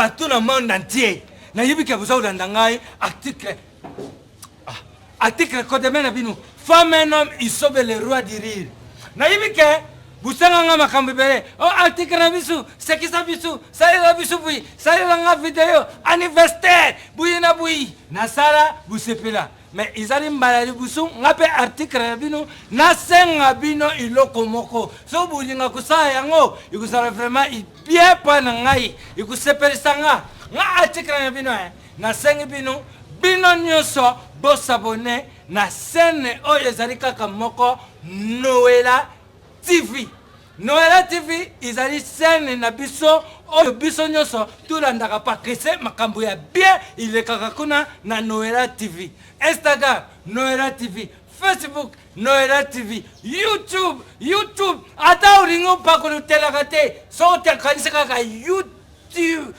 partout na monde entier nayebi ke boza kolanda ngai article Ah, article kodeme na bino femme un homme isobe le roi du rire nayebi ke bosanga nga makambo ebele o oh, article na biso sekisa biso salela biso bui salela nga video anniversaire buyi na buyi nasala bosepela me ezali mbala liboso nga mpe article na bino nasenga bino eloko moko so bolinga kosala yango ekozala vraiment bien mpa na ngai ekosepelisa nga nga article na bino eh. Nasengi bino bino nyoso bo s'abonner na chaine oyo ezali kaka moko Noella TV. Noella TV izali chaine na biso oyo biso nyoso tolandaka pakese makambo ya bien ilekaka kuna na Noella TV. Instagram Noella TV, Facebook Noella TV, YouTube, YouTube ata olingi opakolotelaka te soki otekanisi kaka YouTube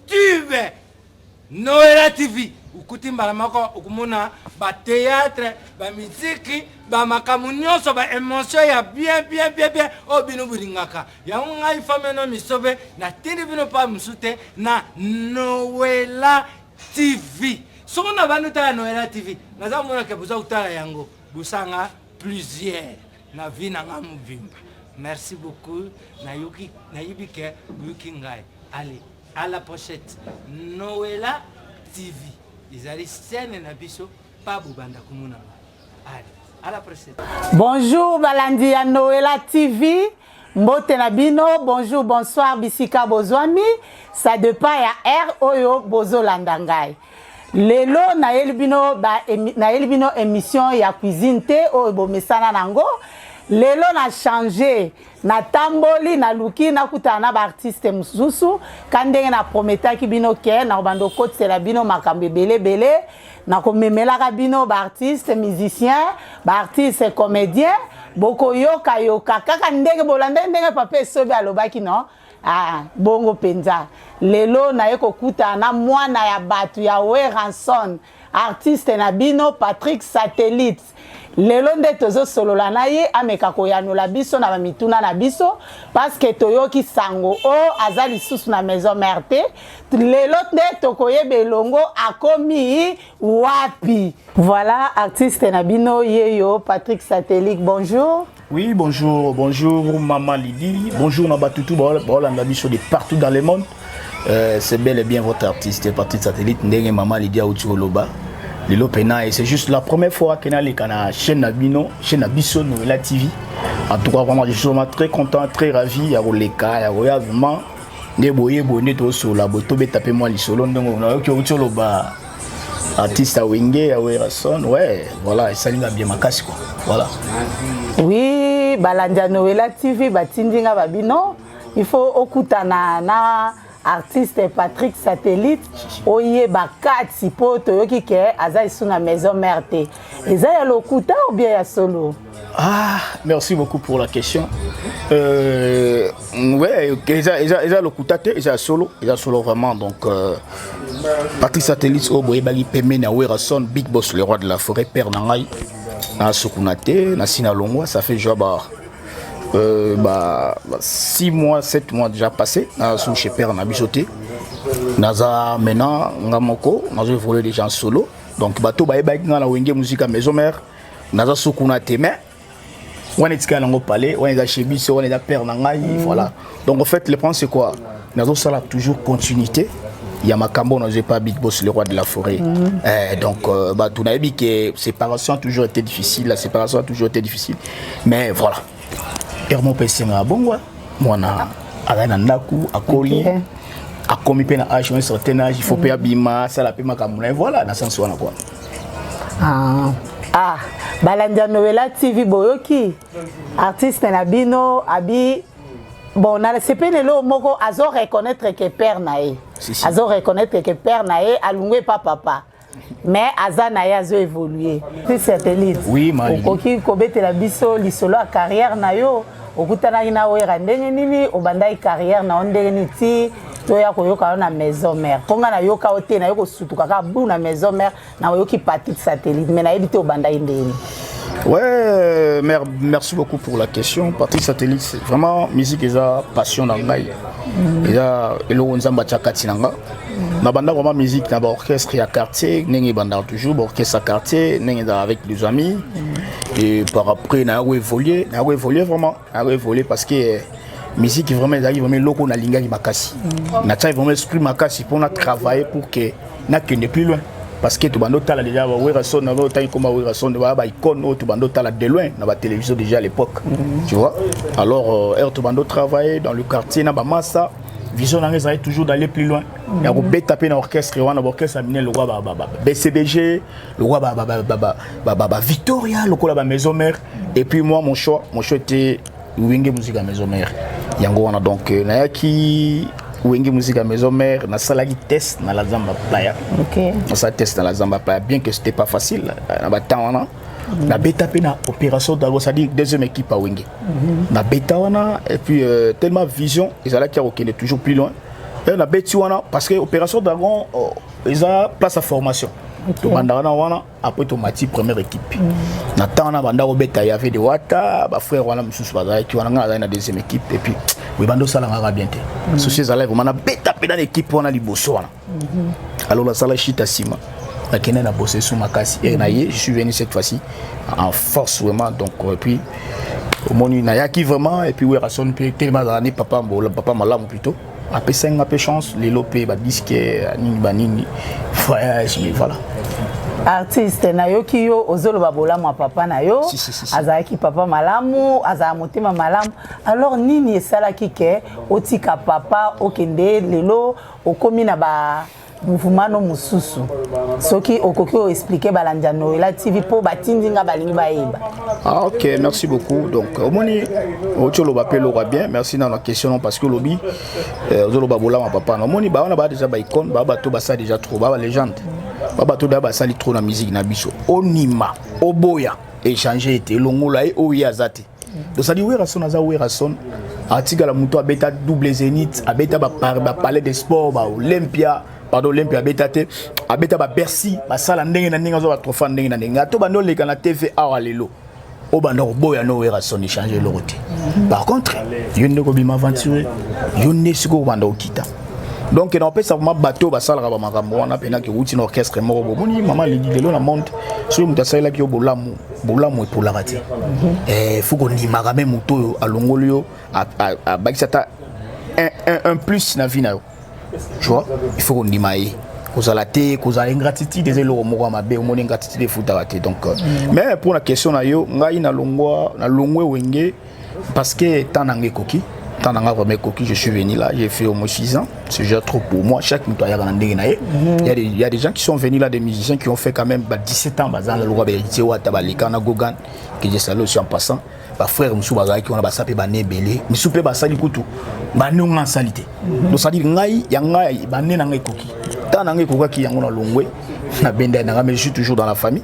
tube noela tv okuti mbala moko okomona bateatre bamiziki bamakambo nyonso baemotion ya bien bien bien bien oyo oh, bino bolingaka yango ngai fameno misobe natindi bino mpa mosusu te na noela tv soko na bani otala noela tv naza komonaka boza kotala yango bosanga plusieurs na vie na nga mobimba merci beaucoup nayoki nayebi ke oyoki ngai ale à la pochette noela tv ezali chaîne na biso pa bobanda komona ngai ale à la prochaine bonjour balandi ya noela tv mbote na bino bonjour bonsoir bisika bozwami ça dépend ya heure oyo bozolanda ngai lelo nayeli bino ba nayeli bino émission ya cuisine te oyo bomesana nango lelo na change natamboli naluki nakutana na baartiste mosusu ka ndenge na prometaki bino ke nakobanda okotisela bino makambo ebele ebele nakomemelaka bino baartiste musicien baartiste comédien bokoyokayoka kaka ndenge bolandai ndenge papa esobe alobaki no Ah, bongo penza. Lelo naye kokutana na mwana ya batu ya Weranson, artiste na bino Patrick Satellite. Lelo nde tozosolola na ye ameka koyanola biso na bamituna na biso paske toyoki sango o oh, aza lisusu na maison mère te. Lelo nde tokoyeba elongo akomi wapi. Voilà artiste na bino yeyo Patrick Satellite. Bonjour. Oui, bonjour, bonjour Maman Lydie, bonjour na Batutu, Baolanda Biso de partout dans le monde. Euh, c'est bel et bien votre artiste, parti de satellite, Ndenge Maman Lydie Aoutioloba. Lilo Pena, et c'est juste la première fois que Nali Kana, chaîne Nabino, chaîne Nabiso, Nouvela TV. En tout cas, vraiment, je suis vraiment très content, très ravi. Il y a Roleka, il y a Roya, vraiment. Nde boye boye nde tosola botobe tape mwa lisolo ndenge onayoki outi oloba artiste ya wenge ya werrason ouais voilà esali nga bien makasi quoi voilà oui balandi ya noela tv batindi nga babino il faut okutana na artiste patrick satellite oyeba kati mpo toyoki ke aza esu na maison mare te eza ya lokuta obie ya solo Ah, merci beaucoup pour la question. Euh, ouais, eza eza eza lokuta te, eza solo, eza solo vraiment donc euh, Patrice Satellite au boye bali pemene à Werrason, Big Boss le roi de la forêt, père nangai. Na Sukunate, na Sinalongwa, ça fait joie bah euh, bah 6 mois, 7 mois déjà passé na sous chez père na bisoté. Naza maintenant ngamoko, nazo évoluer déjà en solo. Donc bato bayebaki nga na Wenge Musica Maison Mère. naza so kuna te mais wana etikali nango palais wana eza chez biso wana eza père na ngai mm. voilà donc en fait le problème c'est quoi nazosala toujours continuité ya makambo oyo nazwi epa big boss le roi de la forêt mm -hmm. eh, donc euh, bato nayebi ke séparation a toujours été difficile la séparation a toujours été difficile mais voilà heure moko mpe esengaka bongo mwana azali na ndako akoli okay. akomi mpe na age un certain age il faut mpe mm. abima asala mpe makambo na ye voilà na sense wana kua ah. ah balandi ya noela tv boyoki artiste na bino abi bon nasepeli eloo moko azo reconnaître ke père na ye azo reconnaître ke père na ye alungwe pa papa mais aza na ye azo évolue ti satellite okoki kobetela biso lisolo ya carrière na yo okutanaki na wera ndenge nini obandaki carrière na yo ndenge nini ti toya koyoka yo na maison mère mpo ngai nayoka yo te nayo kosutuka kaka bu na maison mère nayoki patrick satellite mais nayebi te obandaki ndenge nini Ouais, mer merci beaucoup pour la question. Patrick Satellite, c'est vraiment musique et passion dans le Eza eloko nzamba tchakati nanga. na banda vraiment musique na ba orchestre ya quartier ndenge ebandaka toujours ba orchestre ya quartier ndenge ezalaka avec les amis et par après na yako évoluer na yako évoluer vraiment na yako évoluer parce que eh, musique vraiment ezalaki vraiment eloko nalingaki makasi natyaki vraiment esprit makasi mpo na travailler pour que nakende plus loin parce que tobanda otala déjà ba Werrason na otangi koma Werrason ba ba icône oyo tobanda otala de loin na ba télévision déjà à l'époque tu vois alors euh, heure tobanda travailler dans le quartier na ba massa vision na ngai ezali toujours d'aller plus loin mhm. ya kobeta mpe na orchestre wana baorchestre ya minene lokola bcbg lokola bavictoria lokola bamaison mare et puis moi mon choix mon choix ete wenge musique ya maison mare yango wana donc euh, nayaki wenge musique ya maison mare nasalaki test na la zamba playa nasala test na la zamba playa bien que c'était pas facile euh, na batemps wana Mm. na beta pe na opération dago ça dit deuxième équipe à Wenge mm-hmm. na beta wana et puis euh, tellement vision ils allaient qui est toujours plus loin et na beti wana parce que opération dragon oh, ils ont place à formation okay. banda wana wana après to mati première équipe mm. na temps na banda obeta il y avait de wata ba frère wana mususu bazali qui wana ngala na deuxième équipe et puis oui bando sala ngaka bien te mm. souci zala vraiment na beta pe na l'équipe wana liboso wana Mhm. Alors la sala chita sima. La Kenya n'a bossé sous ma casse. Et naïe, je suis venu cette fois-ci en force vraiment. Donc, et puis, au monde, il y a qui vraiment. Et puis, où est Rasson Puis, tellement d'années, papa, papa malam plutôt. Après 5 peu chance, les lopés, bah, disque, nini, bah, nini. Voyage, mais voilà. artiste nayoki yo ozoloba bolamu ya papa na yo si, si, si, si. azalaki papa malamu azala motema malamu alors nini esalaki ke otika papa okende lelo okomi na ba mouvement no mosusu soki okoki o expliquer balandi ya noela tv mpo batindi nga balingi bayeba ah, ok merci beaucoup donc omoni oti oloba mpe eloko ya bien merci nano question no parce que olobi euh, ozoloba bolama papa na omoni baa wana baa deja baicone baa bato basala deja trop baa balégende baa bato deja basali trop na musique na biso onima oboya echange ete elongola ye oyo ye aza te tozali werrason aza werrason atikala moto abeta double zenith abeta bapalais de sport baolympia pardon olympia abeta te abeta babercy basala ndenge na ndenge azwa batrofa ndenge na ndenge ato banda oleka na tv awa lelo obanda koboya no werrason echange eloko te par contre yo nde kobima aventure yo nde sikoyo obanda okita donc na opesa vraiment bateau basalaka ba makambo wana pena ke wuti na orchestre moko bomoni mama lelo na monde soki moto asalelaki yo bolamu bolamu epolaka te eh, fo kondimaka me moto oyo alongoli yo abakisi ata un plus na vie na yo tu vois il faut kondima ye kozala te kozala ingratitude eza eloko moko ya mabe omoni ingratitude efutaka te donc euh, mm. mais mpo na question na yo ngai nalongwa nalongwe wenge Parce que temps nanga ekoki, temps nanga vraiment ekoki, je suis venu là, j'ai fait au moins 6 ans, c'est déjà trop pour moi, chaque moto ayaka na ndenge na ye. Mhm. Il y a des il y a des gens qui sont venus là des musiciens qui ont fait quand même bah, 17 ans bazan la loi beritier wa tabalika na gogan que j'ai salué aussi en passant. Ba frères musu bazaki on a ba sapé ba nebele, musu pe ba sali kutu. Ba nonga salite. Donc ça dit ngai ya ngai ba nena ngai koki. Tant nanga ekokaki yango na longwe na benda nanga mais je suis toujours dans la famille.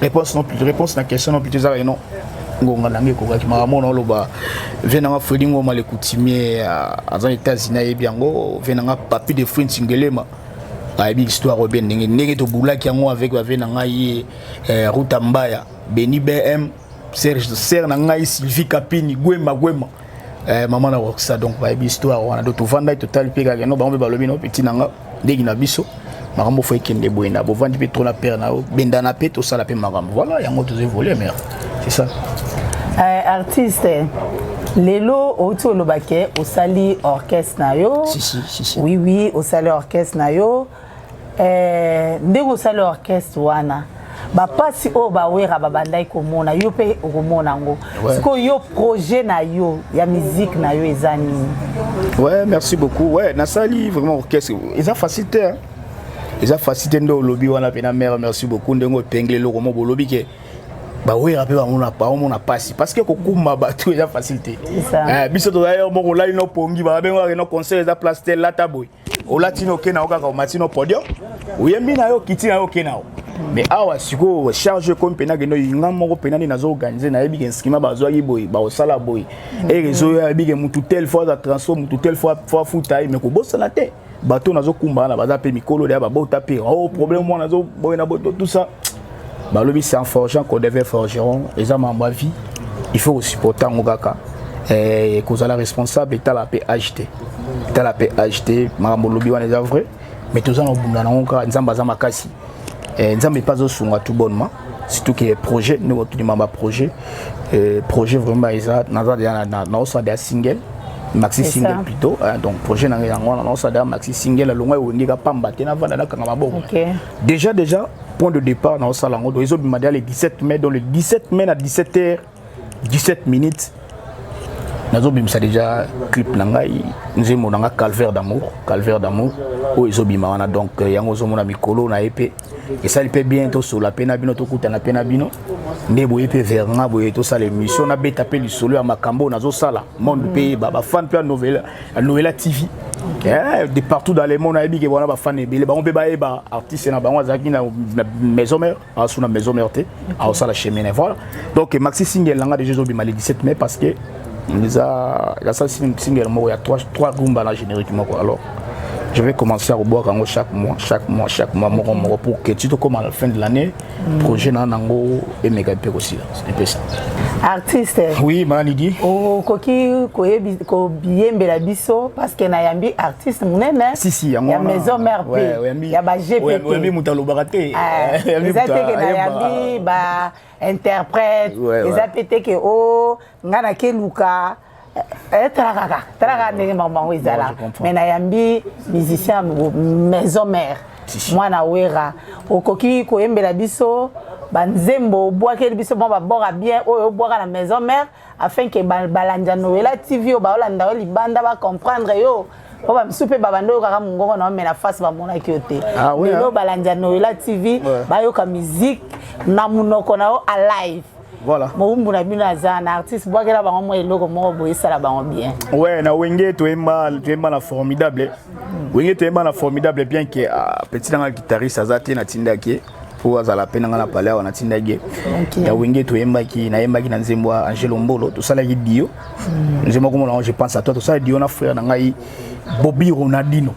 réponse non plus réponse na question non plus ezalaka non ngonga nanga ekokaki makambo mona oloba vie nanga fredi ngoma le coutumier aza na états-unis ayebi yango vie nanga papi de fruit nsingelema ayebi histoire oyo bien ndenge ndenge tobulaki yango avec bavie na ngai ye eh, ruta mbaya beni bm serge sere na ngai sylvie kapini gwema gwema eh, mama na roxa donc bayebi histoire wana do tovandaki totali mpe kaka no bango mpe balobi no peti na nga ndenge na biso makambo fo ekende boye na bovandi mpe tro na pere na yo bendana mpe tosala mpe makambo voilà yango tozwi volet mare c'est ça euh, artiste lelo outi olobake osali orchestre na yo si, si, si, si. oui oui osali orchestre na yo Eh, ndenge osali orchestre wana bapasi oyo bawera babandaki komona yo mpe okomona yango sikoyo yo projet na yo ya musique na yo eza nini ouais merci beaucoup ouais nasali vraiment orchestre eza facile te hein? eza facile te nde olobi wana mpe na mare merci beaucoup ndenge opengle eloko mo bolobi ke bawera mpe bamona mpasi parce que kokumba bato eza facile te eh, biso tozali yo moko olali no pongi babengaka no conseil eza place te lata boye olati no okenda o kaka omati no podium oyembi na yo okiti na yo okenda o mais awa sikoyo charge ekomi mpena kende oyinga moko mpena nde nazo organise nayebi ke instrument bazwaki boye bakosala boye e reseau yo ayebi ke mutu tel fois aza transport mutu tel fois afuta ye mais kobosana te bato nazokumbana baza mpe mikolo deya babota mpe o oh, problème wana azoboye na boto tout ça balobi c'est en forgeant qu'on devait forgeron eza mambo ya vie il faut kosupporte yango kaka eh, kozala responsable etala mpe age te etala mpe age te makambo olobi wana eza vrai mais toza na kobunda nango kaka nzambe aza makasi eh, nzambe mpe azosunga tout bonnement surtout que projet ndenge otudima baprojet eh, projet vraiment eza naza deja naosala deja single maxi single plutôt donc projet na ngai yango wana naosala deja maxi single alongwa ewengeka pamba te navanda nakanga maboko Deja deja point de départ na osala yango donc ezobima deja le 17 mai donc le 17 mai na 17 heures 17 minutes nazobimisa deja clip na ngai nzembo na ngai calvaire d'amour calvaire d'amour oyo ezobima wana donc euh, yango ozomona mikolo na ye mpe esali mpe bien tosola mpe na bino tokutana mpe na bino nde boye mpe vers nga boye tosala émission nabeta mpe lisolo ya makambo oyo nazosala monde mpe yeba bafane mpe ya novele Noëlla TV Yeah, de partout dans le monde ayebi ke wana bafan ebele bango mpe bayeba artiste na bango azalaki na maison mère asu na maison mère te aosala chemin voilà donc maxi singel nanga déjà ezobima le 17 mai parce que eza asala singel moko ya 3 rumba na générique moko alors je vais commencer à reboire chaque mois, chaque mois, chaque mois, mon pour que tu te commences à la fin de l'année, projet na nango emeka mpe kosila epesa artiste oui manidi okoki koyembela biso parce que nayambi artiste monene si, si, ya maison mère pe ouais, ouais, ya bagptoyambi moto alobaka te ah, eza te ke nayambi ba interprète eza mpe te ke o oh, ngai nakeluka Eh, eh, tala kaka tala kaka ndenge makambo yango ezala mais nayambi musicien maison mère mwana wera okoki koyembela biso banzembo obwakeli biso mwa babora bien oyo obwaka na maison mère afin ke balandi ya noela tv oyo baolanda yo libanda bacomprendre yo po bamisu mpe babanda oyokaka mongongo na yo me na face bamonaki yo te ah lelo ah. balandi ya noela tv bayoka musique na monoko na yo alive Voilà. Mowumbu na bino aza na artiste bwakela bango mwa eloko moko boyesala bango bien. Ouais, na wenge toyemba toyemba na formidable. Mm. Wenge toyemba na formidable bien que uh, petit nanga guitariste aza te na tindaki ye mpo azala mpe na ngai na pale awa natindaki ye okay. ya wenge toyembaki nayembaki na nzembo ya angelo mbolo tosalaki dio mm. nzembo akomona yango je pense à toi tosala dio na frère na ngai bobi ronaldino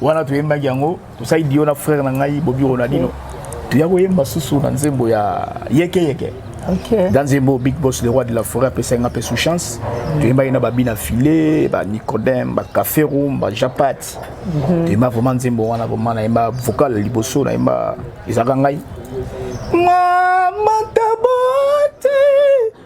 wana toyembaki yango tosali dio na frère na ngai bobi ronaldino toya koyemba susu na nzembo ya yeke yeke okay. dans nzembo big boss le roi de la forêt apesaki nga mpe sous chance mm. toyembaki na babina filet banicodème bacaferum bajapat mm -hmm. toyemba vraiment nzembo wana vraiment nayemba vocal liboso nayemba ezalaka ngai mama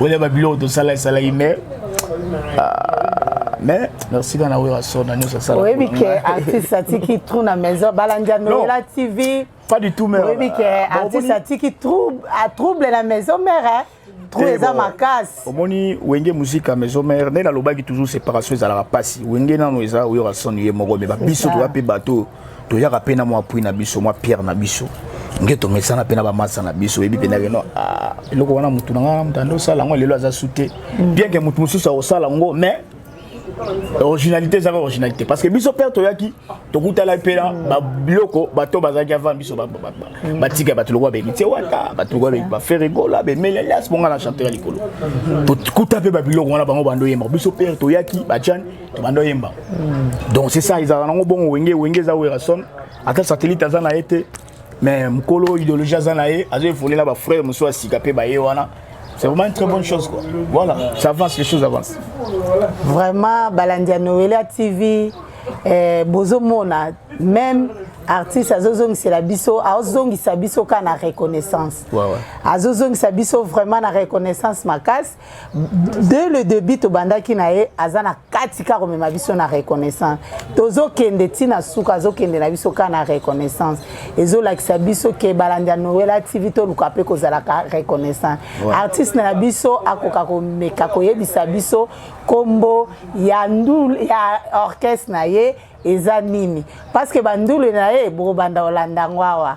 oya ba biloko tosala esalaki mais mais merci kana oyo asona nyonso asala oyebi ke artiste atiki trou na maison balandi ya noela tv pas du tout mère oyebi ke artiste atiki trouble na maison mère trou eza makasi omoni wenge musike ya maison mère nde nalobaki toujours séparation ezalaka mpasi wenge nano eza oyo asoni ye moko me babiso toza mpe bato toyaka mpe na mwa pui na biso mwa pierre na biso nge tomesana mpe na bamasa na biso oyebi mpe ndakeno ah, eloko wana motu na ngai motanda osala yango lelo aza su te mm. bien ke motu mosusu akosala yango mais originalité ezaka originalité parce que biso mpe toyaki tokutalaki mpe na mm. babiloko bato bazalaki avant biso mm. batika bato lokola bemiti wata bato lokola bemiti baferegola bemelelias bonga na chanteur ya likolo tokuta mpe babiloko wana bango bando yemba biso mpe toyaki bajane tobanda oyemba donc c'est ça ezalaka nango bongo wenge wenge eza werrason ata satellite aza na ye te mais mokolo idéologie aza na ye azo evolela bafrère mosusu ya sika mpe baye wana C'est vraiment une très bonne chose. Quoi. Voilà, ça avance, les choses avancent. Vraiment, Balandia Noëlla TV, eh, Bozo Mona, même artiste azozongisela biso azozongisa biso ka na reconnaissance ouais, ouais. azozongisa biso vraiment na reconnaissance makasi de le debut tobandaki na ye aza na kati ka komema biso na reconnaissance tozokende ntina suka azokende na biso ka na reconnaissance ezolakisa biso ke balandi ya noela tv toluka mpe kozalaka reconnaissance ouais. artiste na biso akoka komeka koyebisa biso nkombo ya ndul ya orchestre na ye eza nini parce que bandule na ye bokobanda kolanda yango awa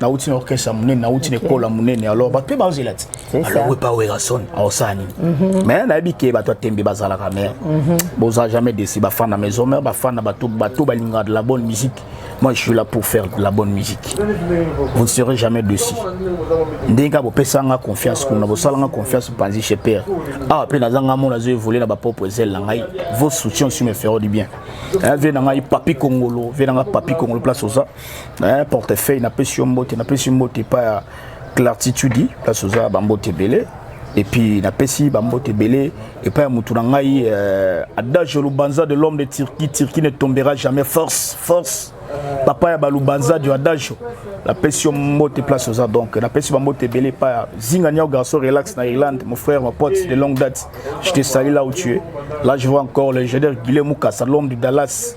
nauti na orchestre ya monene nauti na ekolo ya monene alors bato mpe bazela ti alongwe pa werrason aosala nini mhm. mais nayebi ke bato ya tembe bazalaka mais mhm. boza jamais desi bafan na maison mare bafan na bato bato balingaka de la bonne musique moi je suis là pour faire de la bonne musique vous ne serez jamais desi ndenge kaka bopesa nga confiance kuna bosala nga confiance panzi chez père awa ah, mpe naza nga mona azo évolue na bapropre ezele na ngai vos soutien aussi me feront du bien vie na ngai papi kongolo vie na ngai papi kongolo place oza na portefeuille napesi yo mbote napesi mbote epai ya clartitude place oza bambote ebele epuis napesi bambote ebele epai ya motu na ngai euh, adage lubanza de l'homme de turquie turquie ne tombera jamais force force papa ya balubanza du adage napesi yo mbote place oza donc napesi bambote ebele epai ya zinga niao garçon relax na irlande mon frère ma pote de longue date je te sali là où tu es là je vois encore le génère guile mukasa l'homme du dallas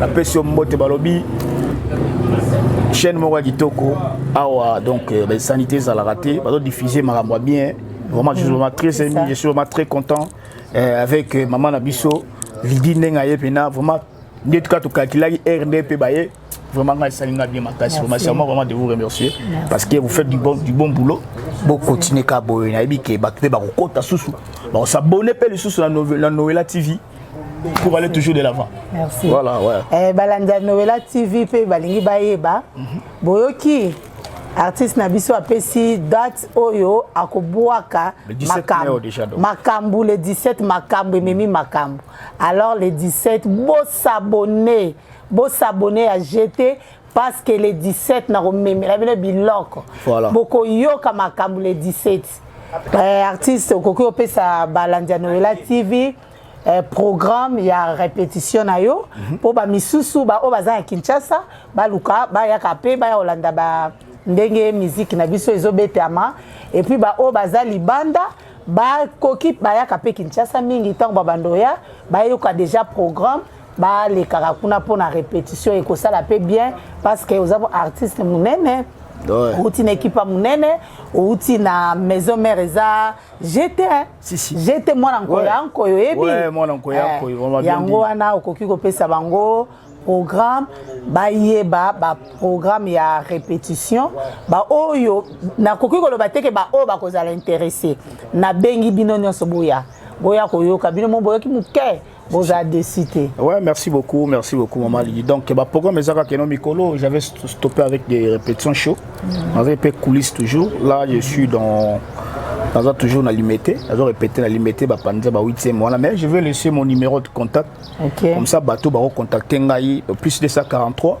napesi yo mbote balobi chaîne moko ya kitoko awa donc euh, baesani te ezalaka te bazodiffuse makambo ya bien vraiment je suis vraiment très aimé je suis vraiment très content euh, avec euh, mama na biso lidi ndenge aye mpena vraiment nde tuka tokalkilaki heure nde mpe baye vraiment ngai esali ngai bien makasi vraiment c'est moi vraiment de vous remercier Merci. parce que vous faites du bon, du bon boulot bokontinue ka boye nayebi ke bato mpe bakokota susu bakosabone mpe lisusu na noela tv pour aller toujours de l'avant. Merci. Voilà, ouais. Eh, balandi ya Noëlla TV mpe balingi bayeba mhm. boyoki artiste na biso apesi date oyo akobwaka makambo makambo le 17 makambo ememi makambo alors le 17 bosabone bosabone ya gt parce que le 17 nakomemela bino biloko voilà. bokoyoka makambo le 17 eh, artiste okoki opesa balandi ya noela tv eh, programme ya répétition na yo mpo mm -hmm. bamisusu baoyo baza na kinshasa baluka bayaka mpe baya kolanda ba ndenge miziki na biso ezobetama epuis baoyo baza libanda bakoki bayaka mpe kinshasa mingi ntango babanda oya bayoka déjà programme balekaka kuna mpo na repetition ekosala mpe bien parce que oza artiste monene outi na ekipa monene outi na maison mare eza jete jete mwana nkoyo ya nkoyo oyebi eh, yango wana okoki kopesa bango programme bayeba baprogramme ya répétition baoyo nakoki koloba te ke baoyo bakozala interesse nabengi bino nyonso boya boya koyoka bino mo boyoki moke boza desi te ouais merci beaucoup merci beaucoup maman lili donc baprogramme ezaka keno mikolo j'avais stoppé avec des répétitions chaud mm. avait mpe coulisse toujours là je suis dans naza toujours na limete nazo répété na limete bapanza ba 8e wana mais je vais laisser mon numéro de contact okay. comme ça bato bakocontacte ngai plus 243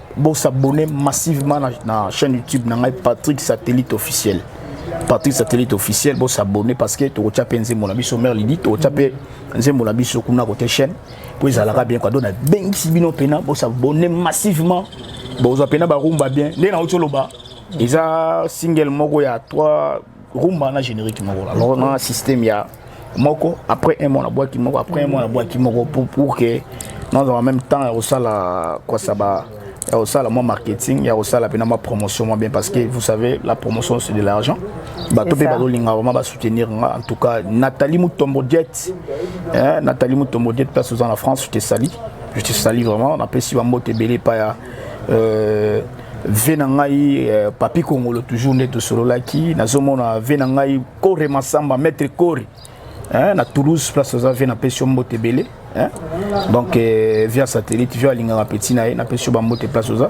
Bo s'abonner massivement na, na chaîne YouTube na ngai Patrick Satellite officiel. Patrick Satellite officiel bo s'abonner parce que to kotia pe nzembo na biso mère Lydie to kotia pe nzembo na biso kuna côté chaîne po ezalaka bien quoi donc na bengisi bino pena bo s'abonner massivement bozwa pena barumba bien nde na otoloba eza single moko ya 3 rumba na générique moko alors na système ya moko après un mois na bwaki moko après un mois na bwaki moko pour pour que nazala même temps ya kosala kwasaba ya kosala mwa marketing ya kosala mpena mwa promotion mwa bien parce que vous savez la promotion c'est de l'argent bato mpe bazolinga vraiment basoutenir nga en tout cas nathalie mutombo diet eh, nathalie mutombo diet place oza na france je te sali je te sali vraiment napesi bambote ebele epai ya euh, ve na ngai eh, papi kongolo toujours nde tosololaki nazomona ve na ngai kore masamba maître kore eh, na toulouse place oza ve napesi yo mbote ebele eh? donc eh, via satellite via alingaka peti na ye napesi yo bambote place oza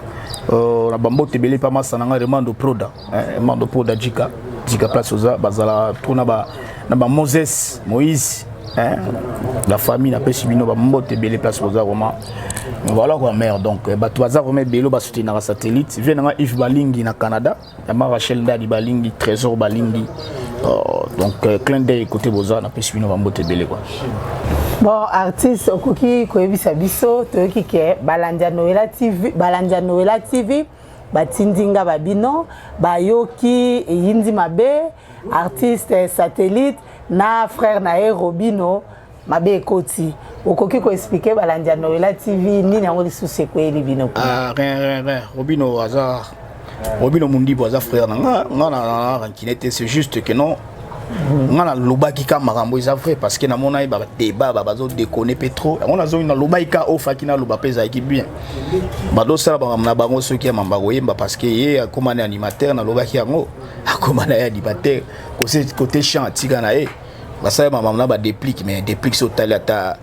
uh, na bambote ebele mpa masa na ngai remando proda eh, remando proda jika jika place oza bazalaka to na ba, na ba moses moïse Hein? La famille n'a pas subi nos mbote belé place aux aroma. Voilà quoi mère donc eh, bah tu vas aroma belé bah soutenir la satellite. Viens dans Yves Balingi na Canada. La ma Rachel Ndadi Balingi, Trésor Balingi. Oh, donc euh, clin d'œil côté Boza n'a pas subi nos mbote belé quoi. bon artiste okoki koyebisa biso toyoki ke balandi ya noela tv balandi ya noela tv batindi nga babino bayoki eyindi mabe artiste satellite na frère na ye robino mabe ekoti okoki koexplike balandi ya noela tv nini yango lisusu ekweyeli bino ah, robino aza robino mundibu aza frère na nga nga na rankine te c'est juste que non nga nalobaki ka makambo eza vrai parce que namonaki badeba bazo dekone mpe trop yango nazongi nalobaki ka ofaki naloba mpe ezalaki bien badosala bamakambo na bango soki ya mamba koyemba parce que ye akomani animateur nalobaki yango akomana ye animateur Kose côté chant atika na ye basala ba maman ba déplique mais déplique so tali ata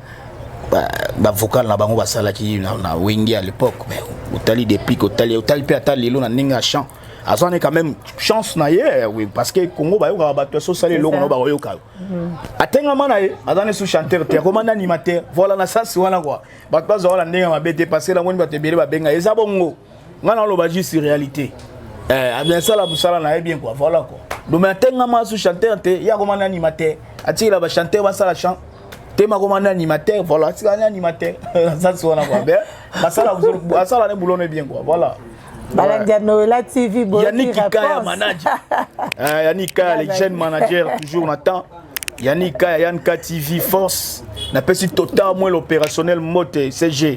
ba, ba vocal na bango basalaki na, na Wenge à l'époque mais otali déplique otali otali pe ata lelo na ndenge ya chant azwa ne quand même chance na ye oui, parce que congo bayokaka bato yaso osala eloko no bakoyoka yo mhm. atengama na ye aza ne su chanteur te akoma nde animateur voilà na sasi wana kua bato bazwa wana ndenge ya mabe te parce que namoni bato ebele babenga eza bongo nga naloba juste réalité eh, abiasala mosala na ye bien kua voilà kua dome atengama asu chanteur te ye akoma na animateur atikela bachanteur basala chant te makoma na animateur voilà atikala na animateur asasi wana kua bien asala ne boulot ne bien kua voilà balandi ya noela tv boyanikikaya manager eh, yanikikaya le jeune manager toujours na temps yanikikaya yanka tv force napesi total moins l'opérationnel mote cg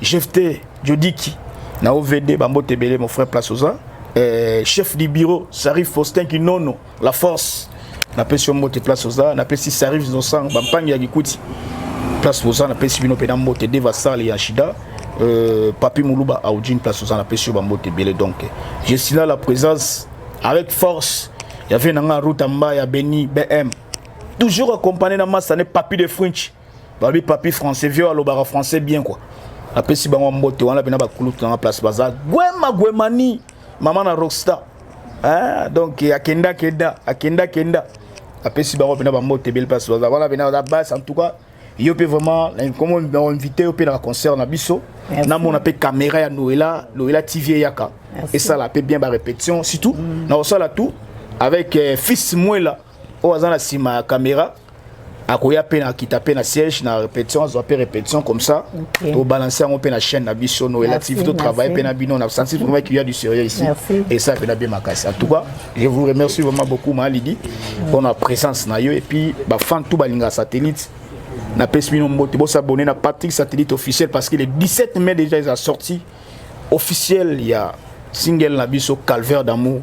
Jephte Jodiki na OVD bambo tebele mon frère place oza eh, chef du bureau Sarif Faustin Kinono la force na pesi yo mbote place oza na pesi Sarif Zosang bampangi ya Kikuti place oza na pesi bino pena mbote Deva Sale ya Shida euh, Papi Muluba Audjin place oza na pesi yo bambote bele donc je suis là la présence avec force ya vie na nga Ruta Mbaya Beni BM toujours accompagné na Masane Papi de French babi papi français vieux alobaka français bien quoi apesi bango mbote wana pena bakulutu nanga place baza gwema gwemani mama na rockstar hein? donc akenda kenda akenda kenda apesi bango pena bambote bele place baza wana pena baza base en tout cas yo mpe vraiment comme invité yo mpe na concert na biso namona mpe caméra ya noela noela tv eyaka esala mpe bien barépétition surtout mm. na kosala tout avec euh, fils mwela oyo aza na nsima ya caméra akoya mpe nakita mpe na siège na répétition azwa mpe répétition comme ça okay. tobalanse yango mpe na chaîne na biso no ela tv totravaille mpe na bino na sansi vraiment qu'il y a du sérieux ici et ça mpe na bien makasi en tout cas je vous remercie vraiment beaucoup ma lidi mpo na présence na yo et puis bafan tout balingaka satellite napesi bino mbote bosabone na patrick satellite officiel parce que le 17 mai déjà eza sorti officiel ya single na biso calvaire d'amour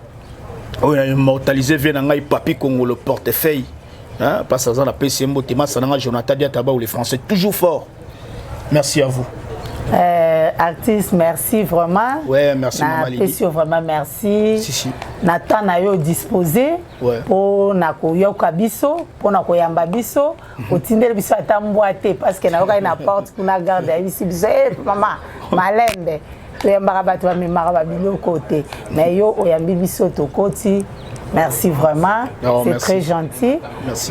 oyo na immortalise vie na ngai papi congo le portefeuille hein, parce aza na pesi ye mbote masa na ngai jonathan diataba ou le français toujours fort merci à vous Euh, artiste merci vraiment ouais, merci na pesi yo vraiment merci si, si. na temps na yo dispose mpo ouais. na koyoka biso mpo na koyamba biso otindeli biso ata mbwa te parceke nayokaki na porte kuna garde ayebisi biso e eh, mama malembe toyambaka bato bamemaka babiloko te na yo oyambi biso tokoti merci vraiment oh, c'est très gentil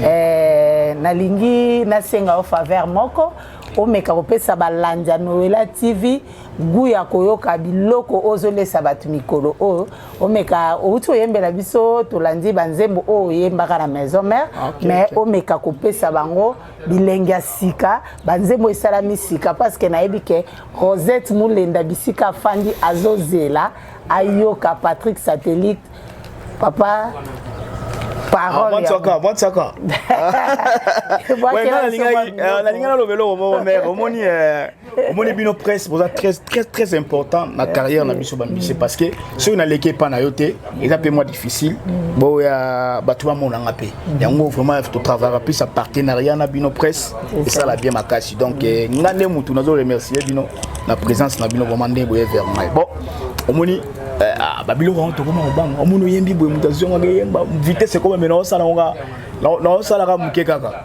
eh, nalingi nasenga yo faveur moko omeka kopesa balandi ya noela tv gu ya koyoka biloko ozolesa bato mikolo oyo omeka outi oyembela biso tolandi banzembo oyo oyembaka na maison mère ah, okay, mais okay. omeka kopesa bango bilengi ya sika banzembo esalami sika parce que nayebi ke rosette molenda bisika afandi azozela ayoka patrick satellite papa nalingi naloba eloko moko mare omoni eh, omoni bino presse boza très très très important na carrière na biso bambise parce que soki naleki epa na yo te eza mpe mwa difficile boya bato bamonanga mpe yango vraiment totravaka plus ya partenariat na bino presse esala bien makasi donc eh, nga nde motu nazo remercier bino na présence na bino vraiment nde boye vers mai bon omoni eh, ah, babiloko yango tokoma kobanga omoni oyembi boye moto azongaka eyemba vitesse ekoma me naosalaka naosalaka moke kaka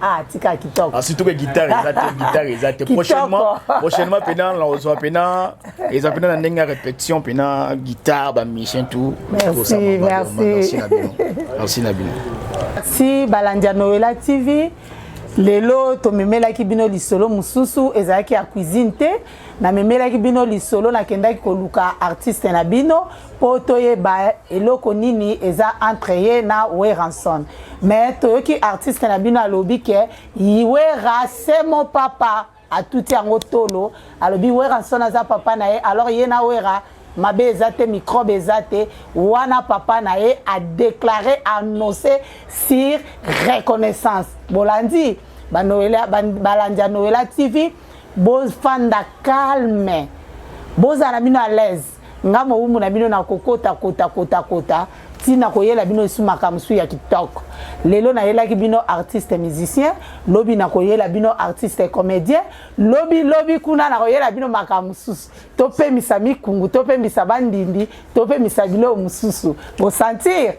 Ah, tika kitoko. Ah, surtout que guitare eza te, guitare eza te. Prochainement, prochainement pena na ozwa pena eza pena na ndenge ya répétition pena guitare ba musiciens tout. Merci, merci. Merci na bino. Merci balandi ya Noela TV. lelo tomemelaki bino lisolo mosusu ezalaki ya cuisine te namemelaki bino lisolo nakendaki koluka artiste na bino mpo toyeba eloko nini eza entre ye na weranson mais toyoki artiste na bino alobi ke wera semo papa atuti yango tolo alobi weranson aza papa na ye alors ye na wera mabe eza te microbe eza te wana papa na ye adeklare annonce sur reconnaissance bolandi balandi ya noela tv bofanda calme bozala bino à l'aise nga mowumbu na bino nakokota kota kota kota ti nakoyela bino lisu makambo su ya kitoko lelo nayelaki bino artiste musicien lobi nakoyela bino artiste comédien lobi lobi kuna nakoyela bino makambo mosusu topemisa mikungu topemisa bandindi topemisa biloko mosusu bosentir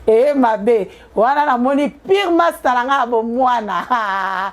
eye mabe wana namoni pire masta na ngai ya bomwana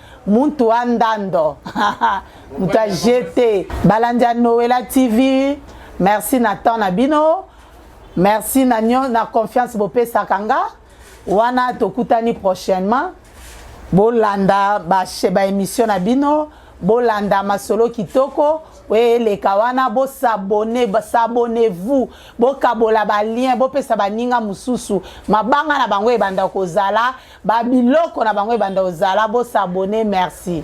Muntu wa ndando mutu a jete balandi ya Noela TV merci na temps na bino merci na nyo na confiance bopesaka nga wana tokutani prochainement bolanda ba émission na bino bolanda masolo kitoko oyo eleka wana bosabone sabone vous bokabola balien bopesa baninga mosusu mabanga na bango ebanda kozala Ba biloko na bango ebanda ozala bo s'abonner merci.